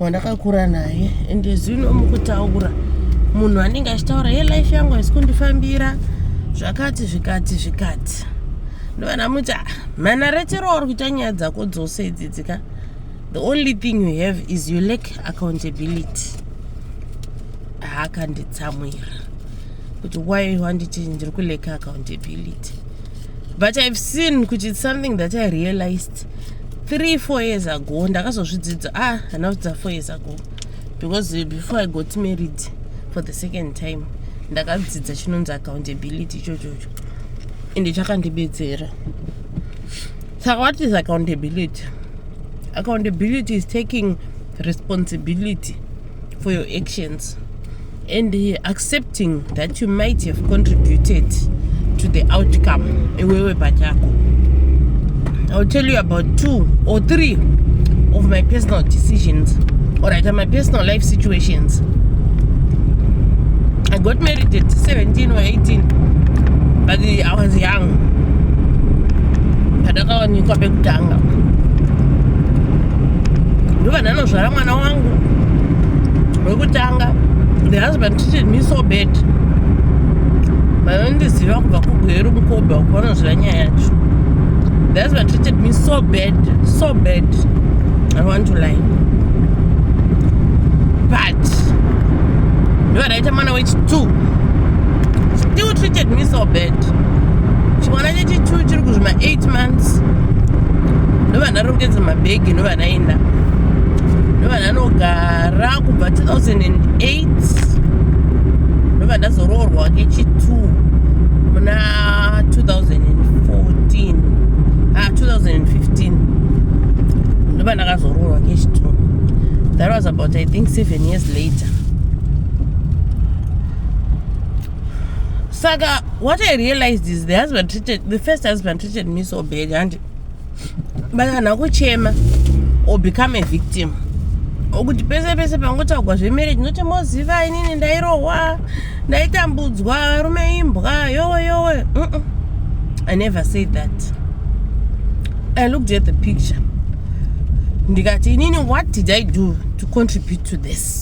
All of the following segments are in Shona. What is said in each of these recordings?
wandakakura naye and zvino mukutaura munhu anenge achitaura ye life yangu haisi kundifambira zvakati zvikati zvikati ndovana muti ah, mhanaretero wauri kuita nyaya dzako dzose idzidzi ka the only thing you have is you lack accountability haakanditsamwira kuti why wanditi ndiri kuleka accountability but i've seen kuti it's something that i realized three four years ago ndakazozvidzidza ah handina kudzidza four years ago because before i got married for the second time ndakadzidza chinonzi accountability ichochocho ende chakandibetsera saka what is accountability accountability is taking responsibility for your actions and uh, accepting that you might have contributed to the outcome iwewe pachako iwill tell you about two or three of my personal decisions or rather my personal life situations i got married at 17 or 18 but i was young pandakawanikwa pekutanga ndovananozvara mwana wangu wekutanga ndakatanga the husband treated me so bad vanondiziva kubva kugweru mukoba uko vanoziva nyaya yacho the husband treated me so bad so bad i want to lie but ndovadaita mwana wechitwo still treated me so bad chimwana chechitwo chiri kuzvima 8 months ndovandarongedza mabhegi ndovanaenda ndovananogara kubva 2008 ndobva ndazoroorwa kechi 2 muna 2014 ah 2015 ndobva ndakazoroorwa kechi 2 that was about i think seven years later saka what i realized is the husband treated the first husband treated me so bad handi vanhu akuchema or become a victim okuti pese pese pangotaugwa zvemarriage noti moziva inini ndairohwa ndaitambudzwa varume imbwa yowe yowe mm -mm. i never said that i looked at the picture ndikati inini what did i do to contribute to this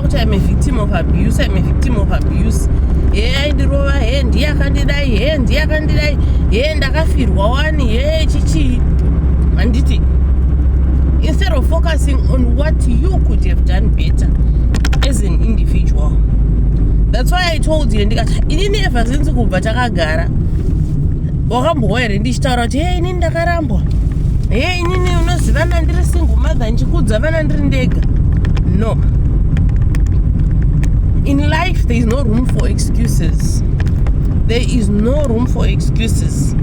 kuti I'm a victim of abuse, I'm a victim of abuse. He aindirova, he ndiye akandidai, he ndiye akandidai, he ndakafirwa wani, he chichi. Handiti, instead of focusing on what you could have done better as an individual. That's why I told you, ndikati, inini ever since kubva takagara, wakambohwa here ndichitaura kuti hei inini ndakarambwa hei inini unozivana ndiri single mother ndichikudza vana ndiri ndega no in life there is no room for excuses there is no room for excuses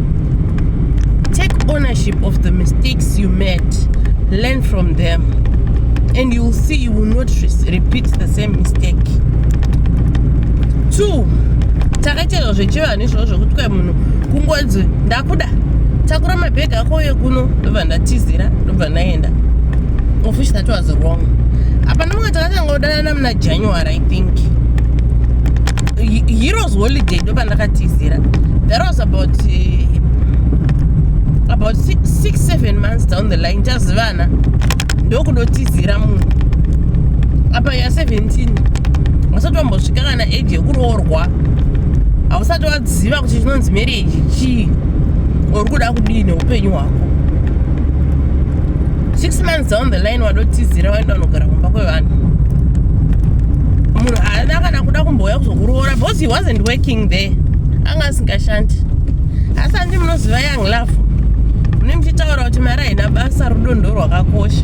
take ownership of the mistakes you made learn from them and you will see you will not repeat the same mistake two takaitezva zvechivanhu nezvavo zvekuti kai munhu kungonzi ndakuda takura mabhegi ako uye kuno ndobva ndatizira ndobva ndaenda of which that was wrong apa ndimanga takatanga kudanana muna january i think heroes holiday ndobva ndakatizira that was about uh, about six, six seven months down the line tazivana ndokudotizira munhu apa ya 17 wasati wambosvika kana age yekuroorwa hausati waziva kuti chinonzi marriage chii or kuda kudii neupenyu hwako six months down the line wadotizira waenda unogara kumba kwevanhu munhu haana kana kuda kumbouya kuzokuroora because he wasn't working there anga asingashandi asi andi munoziva young love mune muchitaura kuti mari haina basa rudo ndo rwakakosha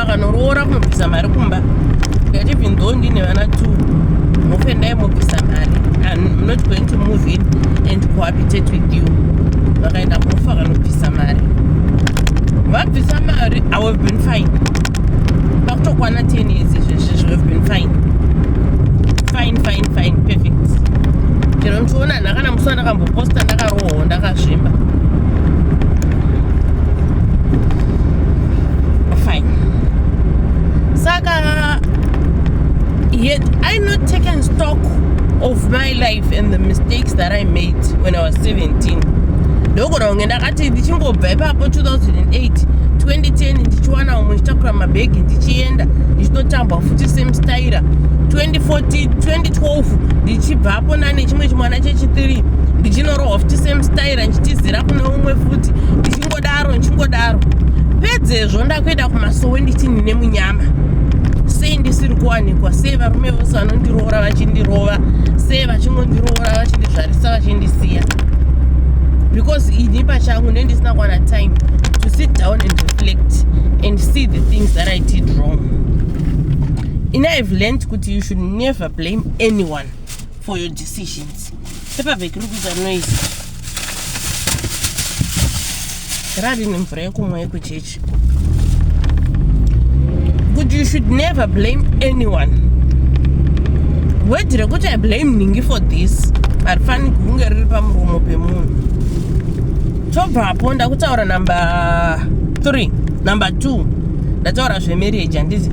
akanoroora kunobvisa mari kumba ndikati even though ndine vana two mufe ndai mobvisa mari i'm not going to move in and cohabitate with you vakaenda mufe akanobvisa mari vabvisa mari i have been fine pakutokwana ten years izvezvezvo have been fine fine fine fine perfect chero ndichiona nhakana musi wandakamboposta ndakarohwa Oh, ndakazvimba. Fine. Saka yet I not taken stock of my life and the mistakes that I made when I was 17. ndogona kunge ndakati ndichingobva ipapo 2008 2010 ndichiwana umwe ndichitakura mabhegi ndichienda ndichitotambwa futi semstaira 2014 2012 ndichibva apona nechimwe chimwana chechitiri ndichinorohwa futi same style ndichitizira kune umwe futi ndichingodaro ndichingodaro pedzezvo ndakuenda kumasowe ndichini nemunyama sei ndisiri kuwanikwa sei varume vose vanondiroora vachindirova sei vachingondiroora vachindizvarisa vachindisiya because ini pachangu ne ndisina kuwana time to sit down and reflect and see the things that i did wrong ini ive learned kuti you should never blame anyone for your decisions paperback iri kuita noise rari nemvura yekumwa yekuchechi kuti you should never blame anyone wedhi rekuti i blame ningi for this harifani kunge riri pamuromo pemunhu tobvapo ndakutaura number three number two ndataura zvemarriage handizi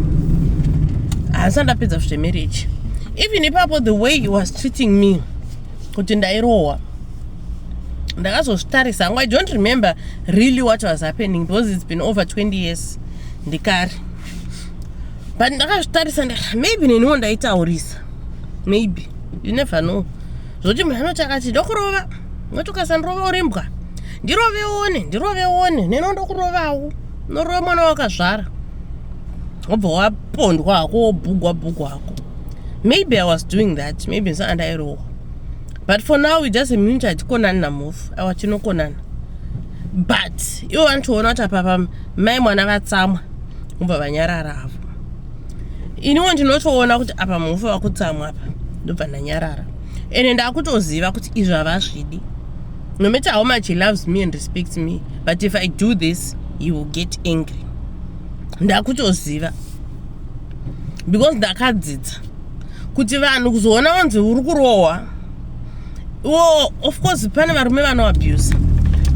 handisati ndapedza zvemarriage even ipapo the way he was treating me kuti ndairohwa ndakazozvitarisa hangu i don't remember really what was happening because it's been over 20 years ndikari but ndakazvitarisa maybe neniwo ndaitaurisa maybe you never know zvokuti munhu anoti akati ndokurova moti ukasandirova urimbwa ndiroveone ndiroveone neno ndokurovawo Unorova mwana wakazvara wobva wapondwa hako wobhugwa bhugwa hako. Maybe I was doing that, maybe ndisanga ndairohwa. But for now we just a minute hatikonani namhofu, awa tinokonana. But ivo vanotoona kuti apapa mai mwana vatsamwa vobva vanyarara havo. Iniwo ndinotoona kuti apa mhofu vakutsamwa apa ndobva ndanyarara. Ende ndakutoziva kuti izvi havazvidi. No matter how much he loves me and respects me. but if i do this he will get angry ndakutoziva because ndakadzidza kuti vanhu kuzoona vanzi uri kurohwa iwo of course pane varume vanoabuse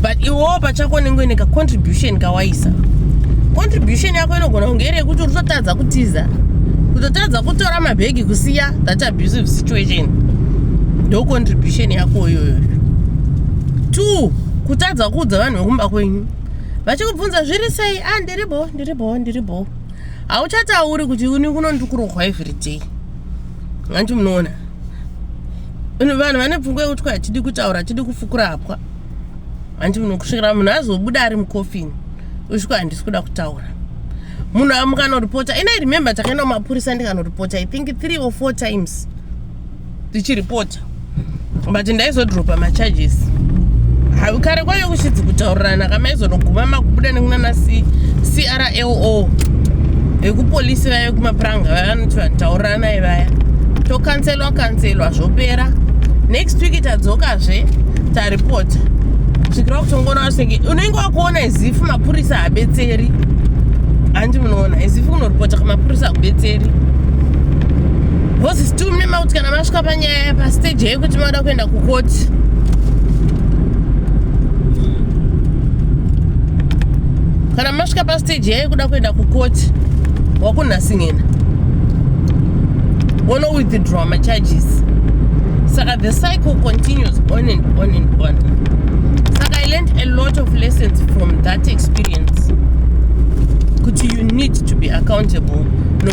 but iwowo pachako unenge uine kacontribution kawaisa contribution yako inogona kunge iri yekuti uri kutotadza kutiza kutotadza kutora mabhegi kusiya that abusive situation ndo contribution yako iyoyoyo two kutadza kuudza vanhu vekumba kwenyu vachikubvunza zviri sei a ah, ndiri bho ndiri bho ndiri bho hauchatauri kuti uni kuno ndikurohwa every day hanti munoona vanhu vane pfungwa yekuti kwa hatidi kutaura hatidi kufukura hapwa hanti muno kusvikira munhu azobuda ari mukofini usviko handisi kuda kutaura munhu amukanoripota ina remember takaenda kumapurisa ndikanoripota i think three or four times tichiripota but ndaizodropa macharges kare kwaive kuchidzi kutaurirana kamaizonoguma makubuda nekunana crlo vekupolisi vaya vekumapuranga vaya vanoti vanhu taurirana ivaya tokanselwa kanselwa zvopera next week tadzokazve taripota svikira kutongoona vasenge unenge wakuona izifu mapurisa habetseri handi munoona izifu unoripota kamapurisa akubetseri Mema kuti kana masvika panyaya pastage yekuti mada kuenda kukoti kana masvika pastage yayekuda kuenda kukoti wakunhasingena wono withdraw macharges saka the cycle continues on and on and on saka i learned a lot of lessons from that experience kuti you need to be accountable no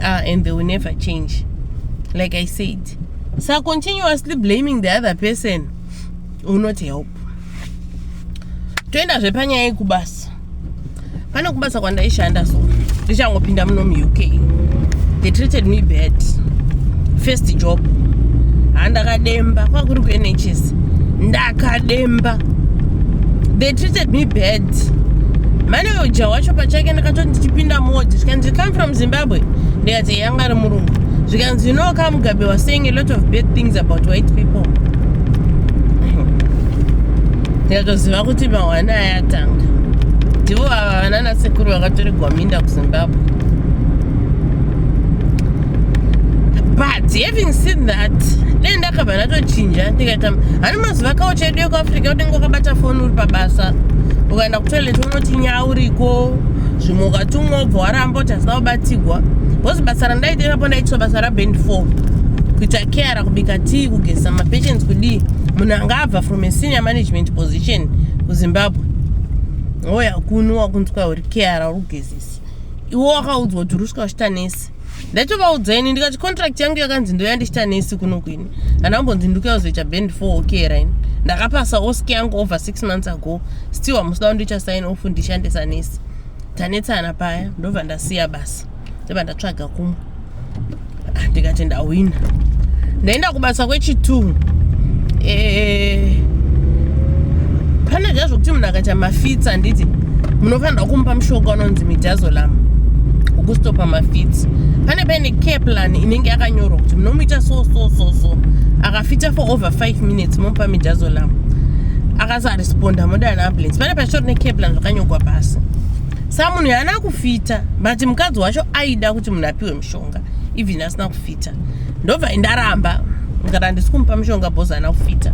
are and they will never change like i said so continuously blaming the other person will not help toenda zvepanyaya yekubasa pane kubasa kwandaishanda so ndichangopinda muno muuk they treated me bad first job handakademba kwakuri kunhs ndakademba they treated me bad mane uja wacho pachake ndakatoti ndichipinda modi zvikanzi come from zimbabwe ndikati yanga ari murungu zvikanzi you know ka mugabe was saying a lot of bad things about white people ndikatoziva kuti mahwana ayatanga ndivo ava vanana sekuru vakatoregwa minda kuzimbabwe but having seen that dai ndakabva ndatochinja ndikaita hani mazuva kawo chedu ekuafrica unenge wakabata foni uri pabasa ukaenda kutoilet unoti nyauriko zvimwe ukatumwa ubva waramba kuti hazina kubatigwa bcause basa randaita ipapo ndaitiswa basa raband four kuita keara kubika tii kugeza mapatients kudii munhu anga abva from a senior management position kuzimbabwe oya kuno wakunzwa uri keara uri kugezesa iwo wakaudzwa kuti uri svika uchitanesi ndatovaudza ini ndikati contract yangu yakanzi ndoyandichita nesi kuno kwini kana ambonzi ndikuyazoita band four okay rain ndakapasa osk yangu over six months ago still hamusida kundicha sign off ndishandisa nesi tanetsana paya ndobva ndasiya basa ndobva ndatsvaga kumwe ah, ndikati ndahwina ndaenda kubasa kwechitu eh, pane zva zvokuti munhu akaita mafitsa handiti munofanirwa kumupa mushonga unonzi midazolam ukustopa mafits pane paine care plan inenge yakanyorwa kuti munomuita so so so so akafita for over five minutes momupa midazolam akasaresponda moda neambulance pane pachitori necare plan zvakanyogwa pasi sa munhu yaana kufita but mukadzi wacho aida kuti munhu apiwe mushonga even asina kufita kufita ndobva indaramba ndikati handisi kumupa mishonga bhozi haana kufita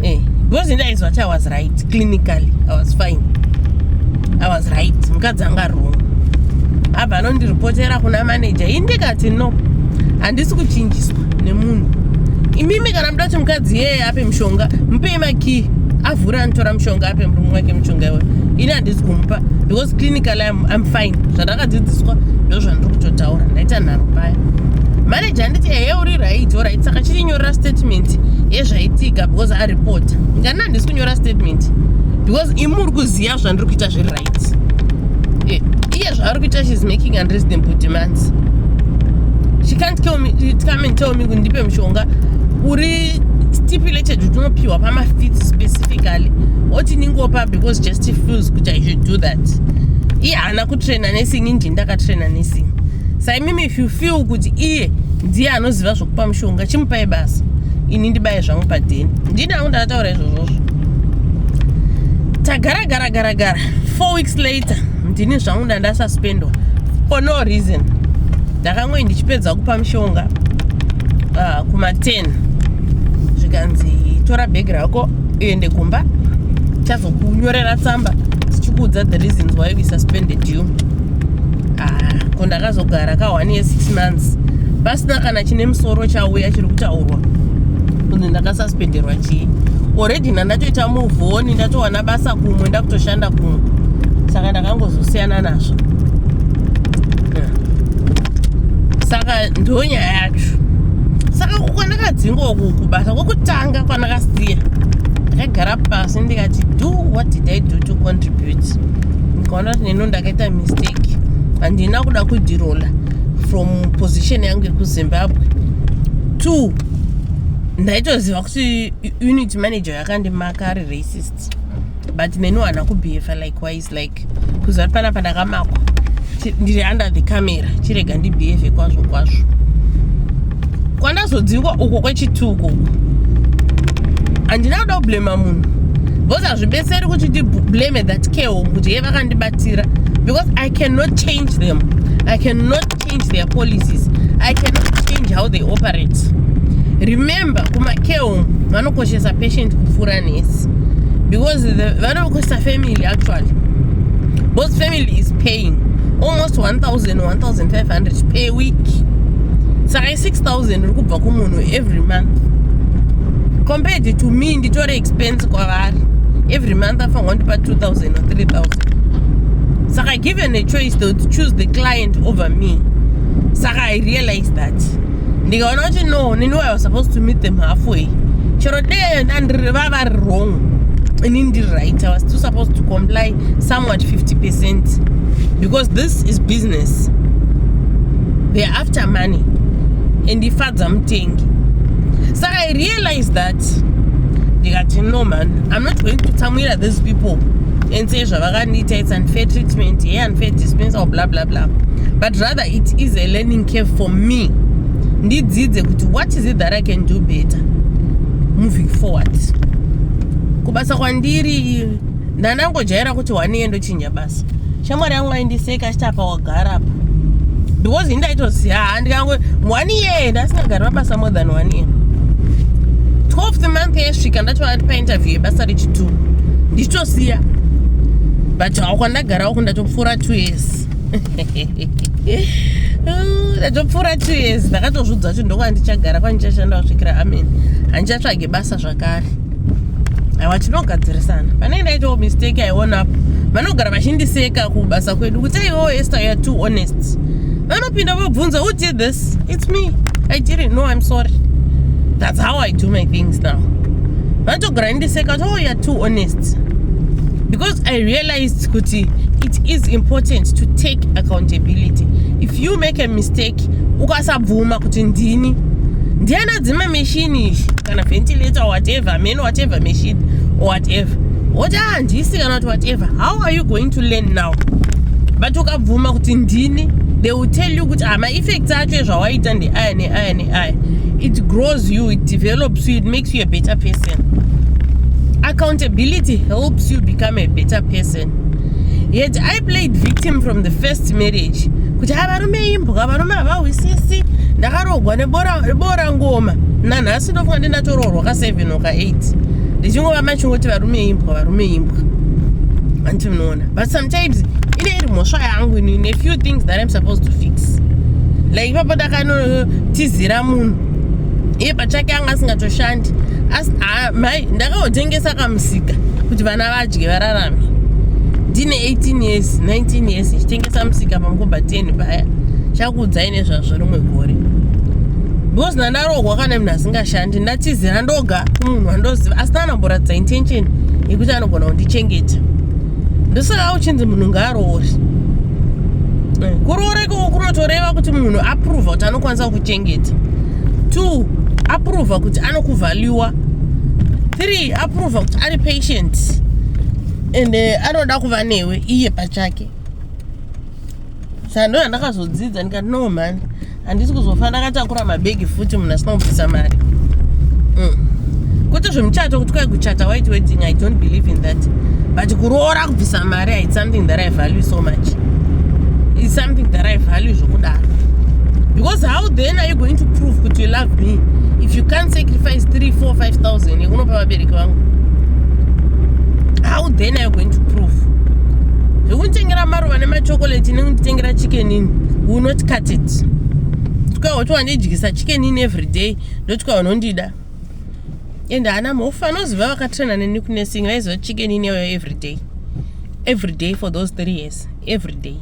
eh, because ndaizwa kuti i was right clinically i was fine i was right mukadzi anga ari wrong abva anondiripotera kuna manager ini ndikati no handisi kuchinjiswa nemunhu imimi kana muda kuti mukadzi yeye ape mushonga mupei makii avhura anotora mushonga ape murume wake mushonga iwe ini handisi kumupa because clinical I'm fine zvandakadzidziswa ndozvandiri kutotaura ndaita nharo paya manager anditi ehe uri right orit saka chirinyorera statement yezvaitika because aripota ndikana handisi kunyora statement because imi uri kuziva zvandiri kuita zviri right eh, iye zvaari kuita shes making unreasonable demands she can't come and tell me kundipe mushonga uri stipulated kuti unopiwa pamafit specifically oti ningopa because just feels kuti i should do that iye haana kutraina nesing inji ndakatraina nesing saimimi if you feel kuti iye ndiye anoziva zvokupa mushonga chimupai basa ini ndibaye zvangu padheni ndini angu ndakataura izvozvozvo tagara gara gara gara four weeks later ndini zvangu ndandasasuspendwa for no reason ndakangoyi ndichipedza kupa mushonga uh, kuma 10 zvikanzi tora bhegi rako uende kumba chazokunyorera tsamba tichikuudza the reasons why we suspended you ah, ko ndakazogara ka one year six months pasina kana chine musoro chauya chiri kutaurwa kunzi ndakasuspenderwa chii already ndandatoita muvoni ndatowana basa kumwe ndakutoshanda kumwe saka ndakangozosiyana nazvo saka ndo nyaya yacho saka kwandakadzinga uku kubasa kwokutanga kwandakasiya ndakagara pasi ndikati do what did i do to contribute ndikaona kuti neno ndakaita mistake handina kuda kudirola from position yangu yekuzimbabwe two ndaitoziva kuti unit manager yakandimaka ari racist but neni wana kubehave likewise it's like kuziva kuti panapa ndakamakwa ndiri under the camera chirega ndibehave kwazvo kwazvo kwandazodzingwa uko kwechituko uko handina kuda kublema munhu because hazvibetseri kuti ndiblame that care home kuti ye vakandibatira because i cannot change them i cannot change their policies i cannot change how they operate remember kumakeo vanokoshesa patient kupfuura nesi because vanokoshesa family actually both family is paying almost 1000-1500 per week saka i6000 iri kubva kumunhu every month compared to me nditore expense kwavari every month afanwa ndipa 2000 or 3000 saka give vane choice to choose the client over me saka i realize that ndikaona kuti no nini why was supposed to meet them halfway chero dee vava vari wrong ini ndiri right i was still supposed to comply somewhat 50 percent because this is business they're after money and ifadza mutengi saka i realize that ndikati no man i'm not going to tsamwira these people and say zvava akandiita its unfair treatment ye unfair dispensal bla bla bla but rather it is a learning cave for me ndidzidze kuti what is it that i can do better moving forward kubasa kwandiri ndanangojaira kuti one yendochinja basa shamwari yangu aindiseka achiti apa gara apa because ini ndaitoziva haa ndikango one year ndasingagari pabasa more than one year 12th month yesvika ndatoona kuti painterview yebasa rechitu ndichitosiya but awo kwandagarawo ku ndatopfuura two years ndatopfuura two years ndakatozviudza kuti ndokwaa ndichagara kwandichashanda kusvikira amen handichatsvage basa zvakare awa tinogadzirisana pane ndaitawo mistake aiona apo vanogara vachindiseka kubasa kwedu kuti aiwo ester youare too honest vanopinda vobvunza who did this its me i didn't know im sorry thats how i do my things now vanotogara vachindiseka kuti oh youare too honest because i realized kuti it is important to take accountability if you make a mistake ukasabvuma kuti ndini ndiana dzima meshini izvi kana ventilator or whatever many whatever machine or whatever woti ah ndisi kana kuti whatever how are you going to learn now but ukabvuma kuti ndini they will tell you kuti ah maeffects acho ezvawaita ndeaya neaya neaya it grows you it develops you it makes you a better person accountability helps you become a better person yet i played victim from the first marriage kuti a varume imbwa varume havahwisisi ndakarogwa nebora ngoma nanhasi ndofunga ndi ndatoroorwa ka 7 oka 8 ndichingova machingoti varume imbwa varume imbwa anti munoona but sometimes ine iri mhosva yangu ini ne few things that im supposed to fix like ipapo ndakanotizira munhu iye pachake anga asingatoshandi asi mai ndakaotengesa kamusika kuti vana va dye vararame ndine 18 years 19 years ndichitengesa musika pamukoba 10 paya chakuudzai nezvazvo rimwe gore because ndandarohwa kana munhu asingashandi ndatizira ndoga kumunhu andoziva asi naanamboratidza intention yekuti anogona kundichengeta ndosaka uchinzi munhu ngaaroori eh, kuroora ikoko kunotoreva kuti munhu aprova kuti anokwanisa kukuchengeta two aprova kuti anokuvaluwa 3 aprova kuti ari patient and eh, anoda kuva newe iye pachake sando yandakazodzidza ndikati no man handisi kuzofana ndakatakura mabhegi futi munhu asina kubvisa mari mm. kwete zvemuchato kuti kwai kuchata white wedding i don't believe in that but kuroora kubvisa mari its something that i value so much its something that i value zvokudaro because how then are you going to prove kuti you love me if you can sacrifice 3 4 5000 yekunopa vabereki vangu how then are you going to prove zvekunditengera maruva nemachokolate nekunditengera chickenini will not cut it ndikauya kuti wandidyisa chickenini every day ndotikuya unondida and haana mhofu anoziva vakatraina neni kunesing vaiziva chickenini yauya every day every day for those three years every day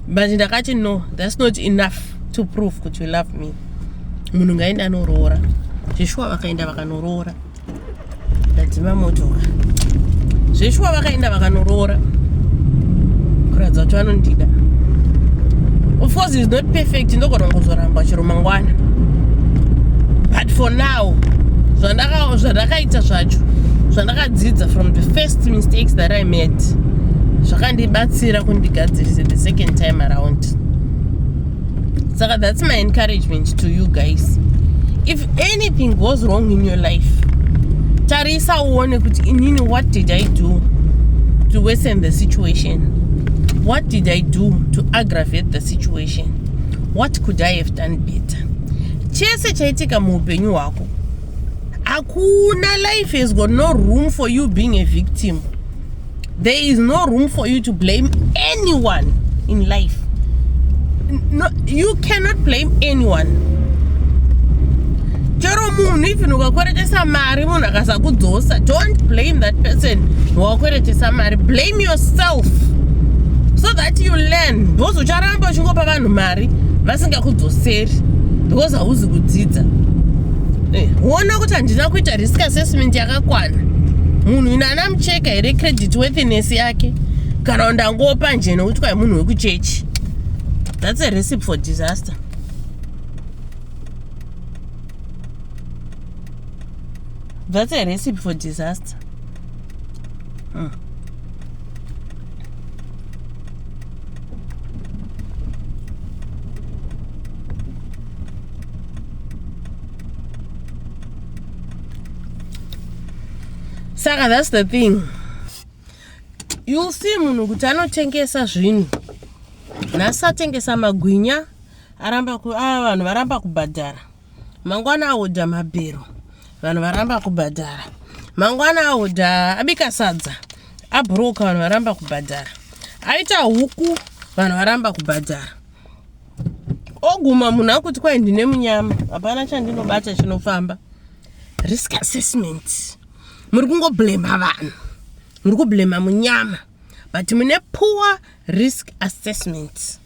but ndakati no that's not enough to prove kuti you love me munhu ngaende anoroora zveshuwa vakaenda vakanoroora ndadzima motoka zveshuwa vakaenda vakanoroora kuratidza kuti vanondida of course is not perfect ndogona kuzoramba chero mangwana but for now zvandakaita zvacho zvandakadzidza from the first mistakes that i made zvakandibatsira kundigadzirise the second time around saka that's my encouragement to you guys if anything goes wrong in your life tarisa uone kuti inini what did i do to worsen the situation what did i do to aggravate the situation what could i have done better chese chaitika muupenyu hwako hakuna life has got no room for you being a victim There is no room for you to blame anyone in life. No, you cannot blame anyone. Chero munhu even ukakweretesa mari munhu akasakudzosa don't blame that person wakweretesa mari blame yourself so that you learn because ucharamba uchingopa vanhu mari vasingakudzoseri because hauzi kudzidza eh, ona kuti handina kuita risk assessment yakakwana munhu ina ana mche ndingatsvaka here credit worthiness yake kana ndangopa nje nokuti kwai munhu wekuchechi that's a recipe for disaster that's a recipe for disaster hmm. saka thats the thing youll see munhu kuti anotengesa zvinhu nhasi atengesa magwinya aramba a ah, vanhu varamba kubhadhara mangwana ahodha mabhero vanhu varamba kubhadhara mangwana ahodha abika sadza abhuroka vanhu varamba kubhadhara aita huku vanhu varamba kubhadhara oguma munhu akuti kwai ndine munyama hapana chandinobata chinofamba risk assessment muri kungoblema vanhu muri kublema munyama but mune poor risk assessment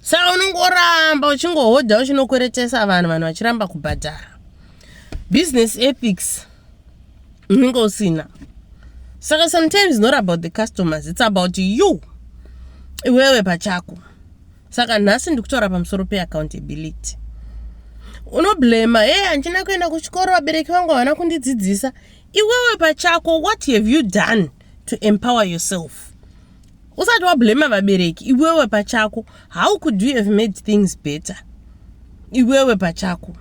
saka unongoramba uchingohodha uchinokweretesa vanhu vanhu vachiramba kubhadhara business ethics unenge usina saka sometimes not about the customers its about you iwewe pachako saka nhasi ndikutaura pamusoro peaccountability unoblema e handina kuenda kuchikoro vabereki vangu havana kundidzidzisa iwewe pachako what have you done to empower yourself usati wablema vabereki iwewe pachako how could you have made things better iwewe pachako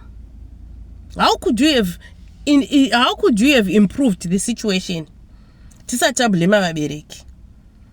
how could you have in, in, how could you have improved the situation tisati tablema vabereki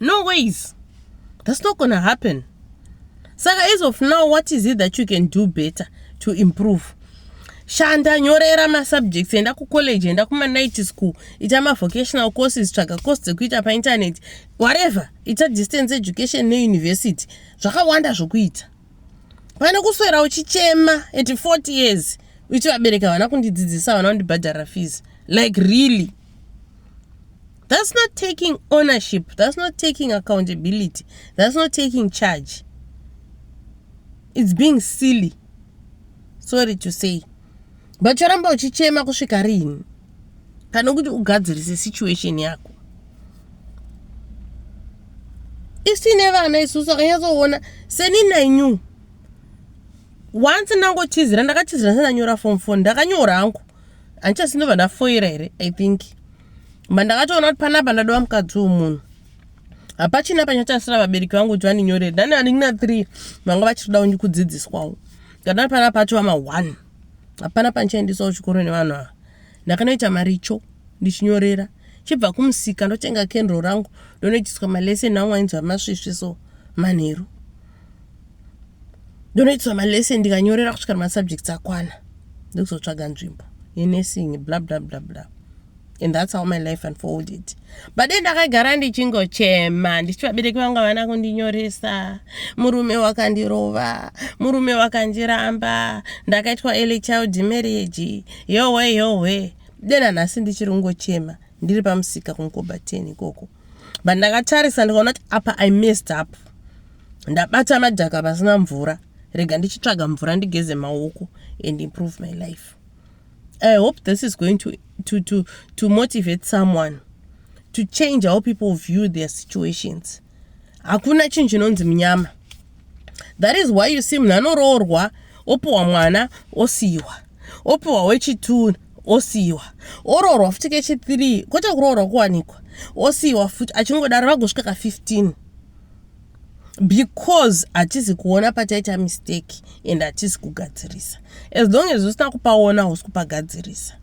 no ways that's not gonna happen saka as of now what is it that you can do better to improve shanda nyorera masubjects enda kucollege enda kumanight school ita mavocational courses tsvaga course dzekuita painternet whatever ita distance education neuniversity zvakawanda zvokuita pane kuswera uchichema at 40 years uchivabereka vana kundidzidzisa vana kundibhadhara fees like really That's not taking ownership. That's not taking accountability. That's not taking charge. It's being silly. Sorry to say. But choramba uchichema kusvika rini? Kana kuti ugadzirise situation yako. Isine vana isusu akanyatsoona seni nenyu. Once ndangotizira ndakatizira sendanyora form 4 ndakanyora hangu. Andichasino vana foira here? I think. Mba ndakatoona kuti panapa ndadova mukadzi wemunhu. Hapachina panyatasira vabereki vangu kuti vandinyorere. Dani vari na 3 vanga vachitoda kunyi kudzidziswawo. Kana panapa atova ma 1. Hapana pandichaendeswa kuchikoro nevanhu ava. Ndakanoita maricho ndichinyorera. Chibva kumusika ndotenga kendro rangu ndonoitiswa maleseni angu ainzi amasvisvi so manheru. ndonoitisa malesson ndikanyorera kusvika masubjects akwana ndokuzotsvaga nzvimbo yenursing bla bla bla bla and that's how my life unfolded but then ndakagara ndichingochema ndichiti vabereki vangu havana kundinyoresa murume wakandirova murume wakandiramba ndakaitwa early child marriage yohwe yohwe then anhasi ndichiri kungochema ndiri pamusika kunkoba ten ikoko but ndakatarisa ndikaona kuti apa i messed up ndabata madhaka pasina mvura rega ndichitsvaga mvura ndigeze maoko and improve my life i hope this is going to, to, to, to motivate someone to change how people view their situations hakuna chinhu chinonzi munyama that is why you see munhu anoroorwa opiwa mwana osiyiwa opiwa wechitunu osiyiwa oroorwa futi kechithree kwete kuroorwa kuwanikwa osiyiwa futi achingodaro vagosvika ka 15 because hatisi kuona pataita mistake and hatisi kugadzirisa as long as usina kupaona hausi kupagadzirisa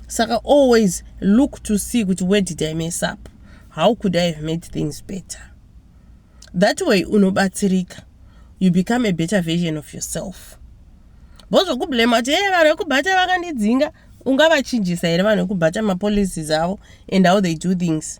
saka always look to see kuti where did i mess up how could i have made things better that way unobatsirika you become a better version of yourself bo zvokublame kuti hey vanhu vekubhata vakandidzinga ungavachinjisa here vanhu vekubhata mapolicies avo and how they do things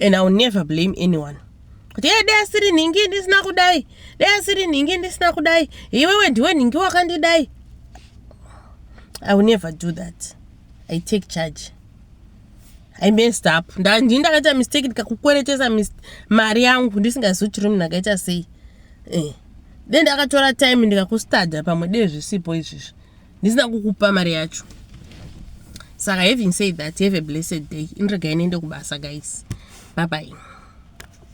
and iwill never blame anyone kuti e dai asiri nhingi ndisina kudai dai asiri nhingi ndisina kudai iwewe ndiwe nhingi wakandidai i will never do that i take charge i messed up ndandii ndakaita mistake ndikakukweretesa mari yangu ndisingazivi chiri munhu akaita sei eh. then ndakatora time ndikakustada pamwe dei zvisipo izvizvi ndisina kukupa mari yacho saka having said that have a blessed day inregai niende kubasa guys babai